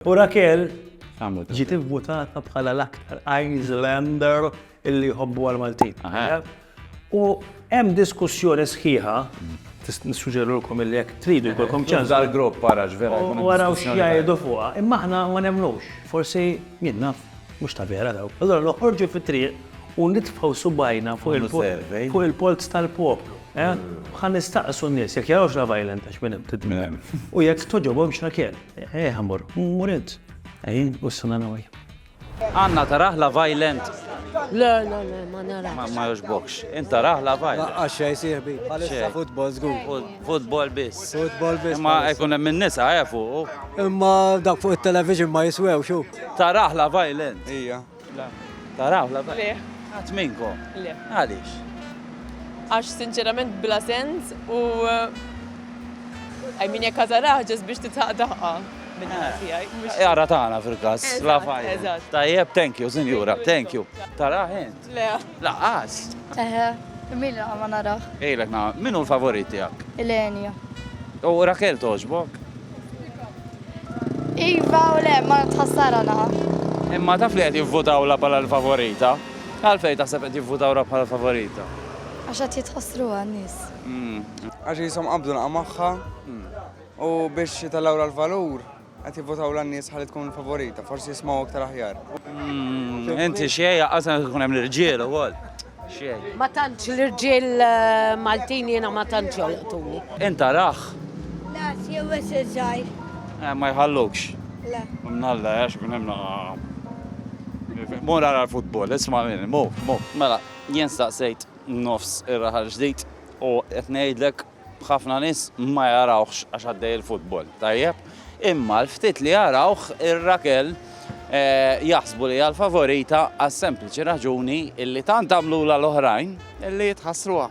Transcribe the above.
U Raquel ġiet ivvutata bħala l-aktar Islander illi jħobbu għall-Maltin. U hemm diskussjoni sħiħa, nissuġġerilkom illi jekk tridu jkollkom ċans. Dal-grupp ara x'vera. U araw x'jgħidu fuqha. Imma aħna ma nemmnux, forsi min naf, mhux ta' vera daw. Allura noħorġu fit-triq u nitfgħu subgħajna fuq il-polz tal-poplu. Ħa nistaqsu n-nies jekk jarawx Love Island għax minn hemm tidmir. U jekk togħġobhomx Raquel. Eeh amor, muret. Ehi, ussa na noi. Anna tarah la violent. Le, le, le, ma narax. Ma joġbokx. Int tarah la violent. Laqqa xej sieħbi. Bħalissa football żgur. Football biss. Football biss. Imma jkun hemm in-nisa eh fuq. Imma dak fuq it-television ma jiswew xu. Tarah la violent. Ija. Le. Taraw la bajja? Le. Ħadd minnkom? Le. Għaliex? Għax sinċerament bla sens u I mean jekk għażaraha ġast biex titħaq daħqa min-naħa eh. tiegħi. Eh, Jara tagħna fil-każ. La fajja. Eżatt. Tajjeb, thank you, sinjura, thank you. Taraħ int? Le. Laqas. Eħe, min ma naraħ. Ejlek na, min hu l-favorit tiegħek? Elenia. U Rakel toġbok? Iva u le, ma tħassara naħa. Imma taf li qed jivvutawla bħala l-favorita? Għalfejn taħseb qed jivvutawra bħala l-favorita? Għax qed jitħassruha n-nies. Għax qishom qabdu naqa' magħha u biex jitellgħulha l-valur qed jivvutawla n-nies ħalli tkun favorita, forsi jismgħu iktar aħjar. Inti xejn, aqqas għandu jkun hemm l-irġiel ukoll. Xejn. Ma tantx l-irġiel eh, Maltin jiena ma tantx jolqtuni. Int rah? La, jew wes iż-żgħir. Eh, ma jħallukx. La. Mnalla, għax minn hemm Mur għara l-futbol, isma' minni, mur, mur. Mela, jien staqsejt nofs ir-raħal ġdid u qed ngħidlek B'ħafna nies ma jarawhx għax għaddej il-futbol, tajjeb, imma l-ftit li jarawh ir-Rakel jaħsbu li hija l-favorita għas-sempliċi raġuni illi tant għamlulha l-oħrajn illi tħassruha.